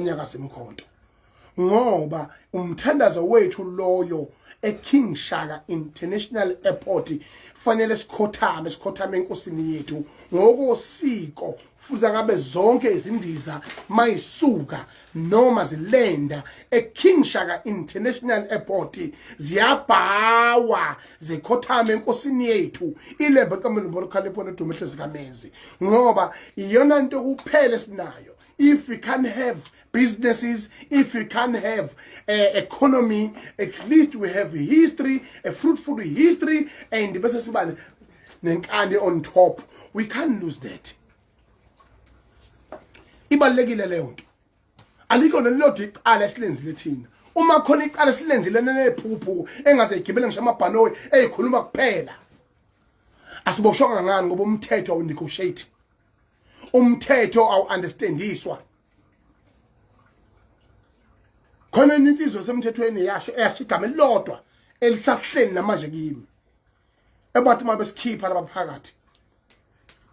nyakaza imkhonto ngoba umthandazo wethu loyo eKing Shaka International Airport fanele sikhothame sikhothame enkosini yethu ngokosiko futhi ngabe zonke izindiza mayisuka noma zilenda eKing Shaka International Airport ziyabhawa zikhothame enkosini yethu ilembe kaMlombo lokhalepho nodumehle zikamenzi ngoba iyona into kuphele sinayo if we can't have businesses, if we can't have uh, economy, at least we have history, a fruitful history, and the nenkani on top. We can't lose that. Ibalulekile leyo nto. Alikho nelilodwa icala esilenzile thina. Uma khona icala esilenzile nenephuphu engaze igibele ngisho amabhanoyi ezikhuluma kuphela. Asiboshwanga ngani ngoba umthetho awunegotiate. umthetho awu-understandiswa khona enye insizwa esemthethweni yasho eyasho igama elilodwa elisahleni namanje kimi ebathi uma besikhipha laba phakathi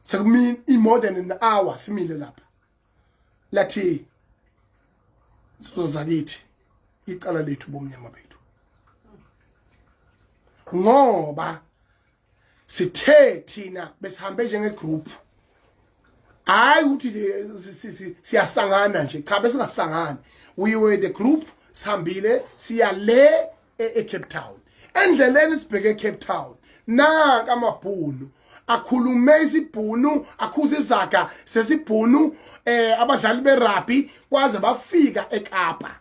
sekumini i-more than an hour simile lapha lathi sizozakithi icala lethu bomnyama bethu ngoba sithe thina besihambe njenge group hayi ukuthi siyasangana nje cha besingasangani we were the group sihambile siya le eCape Town endleleni sibheke eCape Town naka amabhunu akhulume isibhunu akhuze izaga sesibhunu eh abadlali berugby kwaze bafika eKapa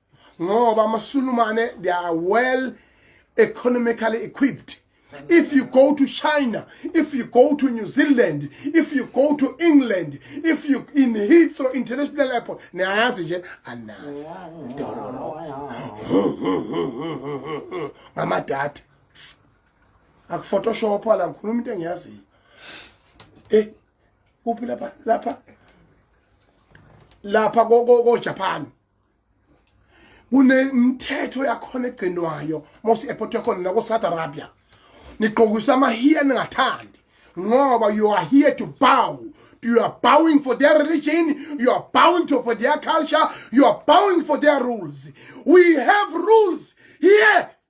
ngoba amasulumane they are well economically equipped if you go to china if you go to new zealand if you go to england if you in heathrow international airport niyayazi nje anazi dororo ngamadata akuphotoshop la ngikhuluma into engiyaziyo eh kuphi lapha lapha lapha ko ko Japan kunemithetho yakhona egcinwayo mose airport yakhona nako South Arabia nigqokisa amahiya ningathandi ngoba you are here to bow you are bowing for their religion you are bowing to for their culture you are bowing for their rules we have rules here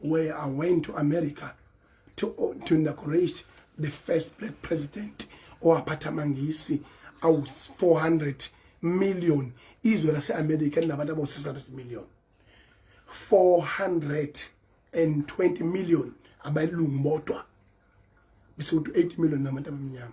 where I went to America to, uh, to inaugurate the first black president owaphatha amangisi awu 400 million izwe laseAmerica linabantu abawu 600 million 420 million abayilungu bodwa bese kuthi 8 million nabantu abamnyama